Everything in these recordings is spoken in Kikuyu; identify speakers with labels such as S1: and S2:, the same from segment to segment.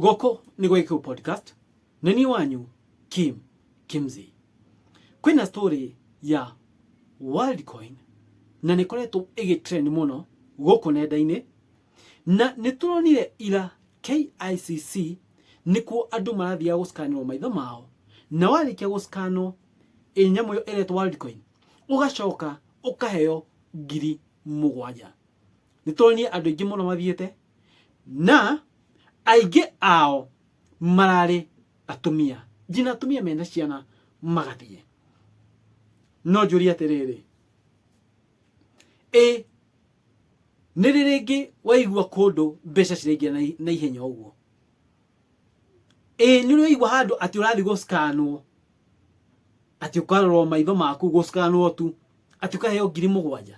S1: gũkũ nĩ gwĩkĩu podcast nĩ niĩ wanyu kim kimzi kwĩna story ya worldcoin na nĩ koretwo ĩgĩtrend mũno gũkũ nenda-inĩ na nĩ tũronire ira KICC nĩkuo andũ marathiaga gũcikanĩrwo maitho mao na warĩkia gũcikanwo ĩ nyamũ ĩyo ĩretwo worldcoin ũgacoka ũkaheo ngiri mũgwanja nĩ tũronire andũ aingĩ mũno mathiĩte na aingĩ ao mararĩ atumia njina atumia mena ciana magathiĩ no njũria atĩrĩrĩ ĩ nĩ rĩ rĩngĩ waigua kũndũ mbeca ciraingĩra na i- na ihenya ũguo ĩ nĩ ũraigua handũ atĩ ũrathiĩ gũcikanwo atĩ ũkarorwo maitho maku gũcikanwo tu atĩ ũkaheo ngiri mũgwanja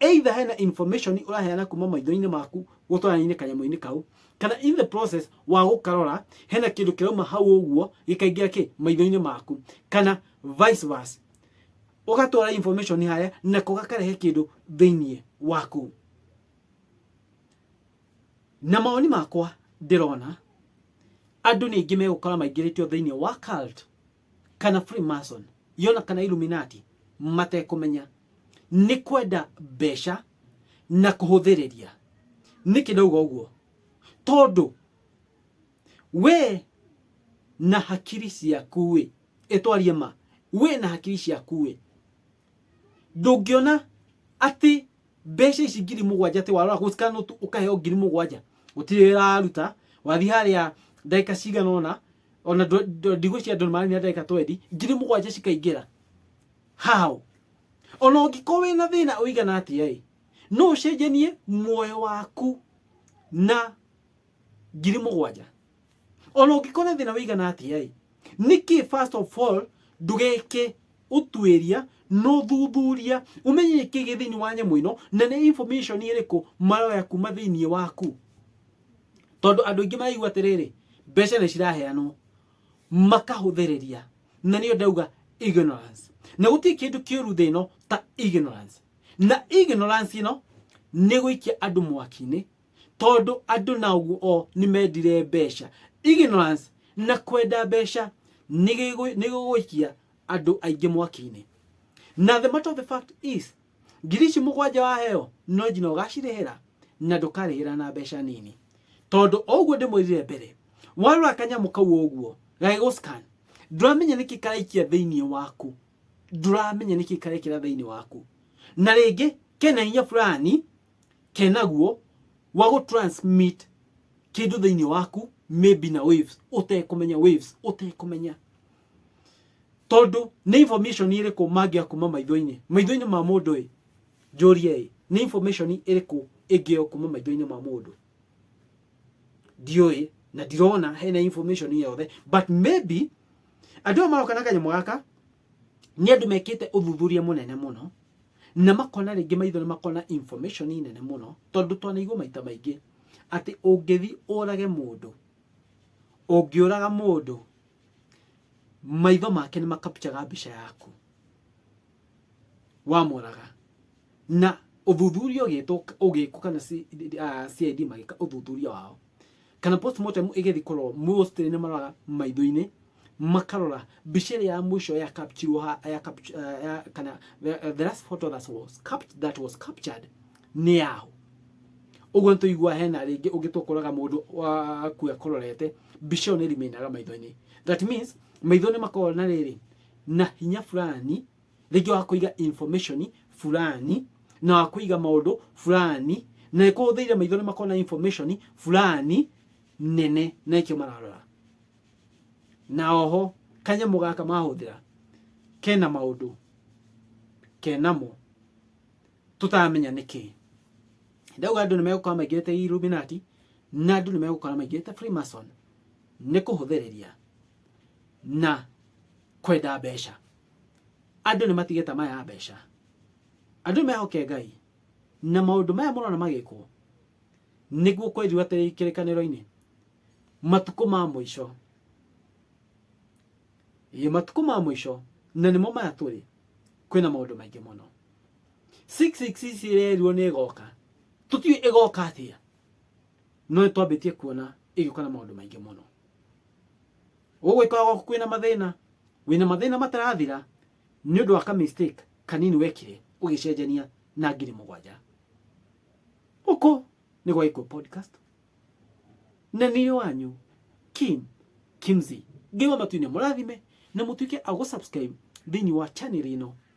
S1: either hena information ũraheana kuma maitho-inĩ maku gũtwaranaine kanyamũ-inĩ kau kana in the process wa gũkarora hena kĩndũ kĩrauma hau ũguo gĩkaingĩra kĩ maitho-inĩ maku kana vice versa ũgatwara information harĩa nako gakarehe kĩndũ thĩinĩ waku na mawoni makwa ndĩrona andũ nĩ aingĩ megũkora maingĩrĩtio thĩinĩ wa cult kana freemason yona kana illuminati matekũmenya nĩ kwenda mbeca na kũhũthĩrĩria nĩkĩ ndauga ũguo tondũ we na hakiri ciaku ĩ ĩtwarie ma we na hakiri ciaku ĩ ndũngĩona atĩ mbeca ici ngiri mũgwanja atĩ warora gũcikana ũkaheo ngiri mũgwanja gũtirĩ wĩra waruta wathi harĩa ndagĩka cigana ũna ona ndũ- ndũ- ndigũ cia andũ maarĩ na ndagĩka twendi ngiri mũgwanja cikaingĩra how ona ũngĩkorwo wĩ na thĩna ũigana atĩa ĩ no ũcenjanie muoyo waku na ngiri mũgwanja ona ũngĩkorwo na thĩna ũigana atĩa ĩ nĩkĩ first of all ndũgeke ũtuĩria na ũthuthuria ũmenye nĩkĩ gĩ thĩinĩ wa nyamũ ĩno na nĩ information ĩrĩkũ maroya kuma thĩinĩ waku tondũ andũ aingĩ maraigua atĩrĩrĩ mbeca nĩ ciraheanwo makahũthĩrĩria na nĩyo ndauga ignorance na gũtirĩ kĩndũ kĩũru thĩ ĩno ta ignorance na ignorance ĩno nĩ gũikia andũ mwaki-inĩ tondũ andũ naguo o nĩ mendire mbeca ignorance na kwenda mbeca nĩ gĩgũ- nĩ gĩgũikia andũ aingĩ mwaki-inĩ na the matter of the fact is ngiri ici mũgwanja waheo no njina ũgacirĩhĩra na ndũkarĩhĩra na mbeca nini tondũ oũguo ndĩmwĩrire mbere warora kanyamũ kau ũguo gagĩgũ scan ndũramenya nĩkĩ karaikia thĩinĩ waku ndũramenya nĩkĩ karekĩra thĩinĩ waku na rĩngĩ kena hinya fulani kenaguo wa gũ transmit kĩndũ thĩinĩ waku maybe na waves ũtekũmenya waves ũtekũmenya tondũ nĩ information ĩrĩkũ mangĩa kuma maitho-inĩ maitho-inĩ ma mũndũ ĩ njũrie ĩ nĩ information ĩrĩkũ ĩngĩyo kuma maitho-inĩ ma mũndũ ndiũĩ na ndirona hena information yothe but maybe andũ aya maroka na kanyamũ gaka nĩ andũ mekĩte ũthuthuria mũnene mũno na makona rĩngĩ maitho nĩ makona information nene mũno tondũ twanaigua maita maingĩ atĩ ũngĩthi ũrage mũndũ ũngĩũraga mũndũ maitho make nĩ makapchaga mbica yaku wamoraga na ũthuthuria ũgĩtwo ũgĩkwo kana C- ah, CID magĩka ũthuthuria wao kana postmortem ĩgĩthiĩ kũrorwo mostly nĩ maroraga maitho-inĩ makarora mbica ĩrĩa ya mũico ya captured ha ya capt- ah, ya- kana the the last photo that was capt- that was captured nĩ yaũ ũguo nĩtũigua hena rĩngĩ ũngĩ tũkoraga mũndũ akua akororete mbica ĩyo nĩrimenaga maitho-inĩ that means maitho nĩ makoragwo na rĩrĩ na hinya fulani rĩngĩ wa kũiga information fulani na wa kũiga maũndũ fulani na ĩkũhũthĩire maitho nĩ makoragwo na information fulani nene na ĩkĩo mararora na oho kanyamũ gaka mahũthĩra kena maũndũ kenamo tũtaramenya nĩkĩ ndauga andũ nĩ megũkorwo maingĩrĩte illuminati na andũ nĩ megũkorwo maingĩrĩte freemason nĩ kũhũthĩrĩria na kwenda mbeca andũ nĩ matige tama ya mbeca andũ nĩ mehoke ngai na maũndũ maya mũrona magĩkwo nĩguo kwĩrĩu atĩ kĩrĩkanĩro-inĩ matukũ ma mũico Ĩ, matukũ ma mũico na nĩmo maya tũrĩ kwĩna maũndũ maingĩ mũno 666 ĩrerirwo nĩ ĩgoka tũtiũĩ ĩgoka atĩa no nĩ twambĩtie kuona ĩgĩũka na maũndũ maingĩ mũno gũgwĩkoragwo kwĩna mathĩna wĩna mathĩna matarathira nĩ ũndũ wa ka mistake kanini wekire ũgĩcenjania na ngiri mũgwanja gũkũ nĩ gwa Gĩkũyũ podcast na nĩ wanyu kim kimzi ngĩwa matuinĩ mũrathime na mũtuĩke a gũsubscribe thĩinĩ wa channel ĩno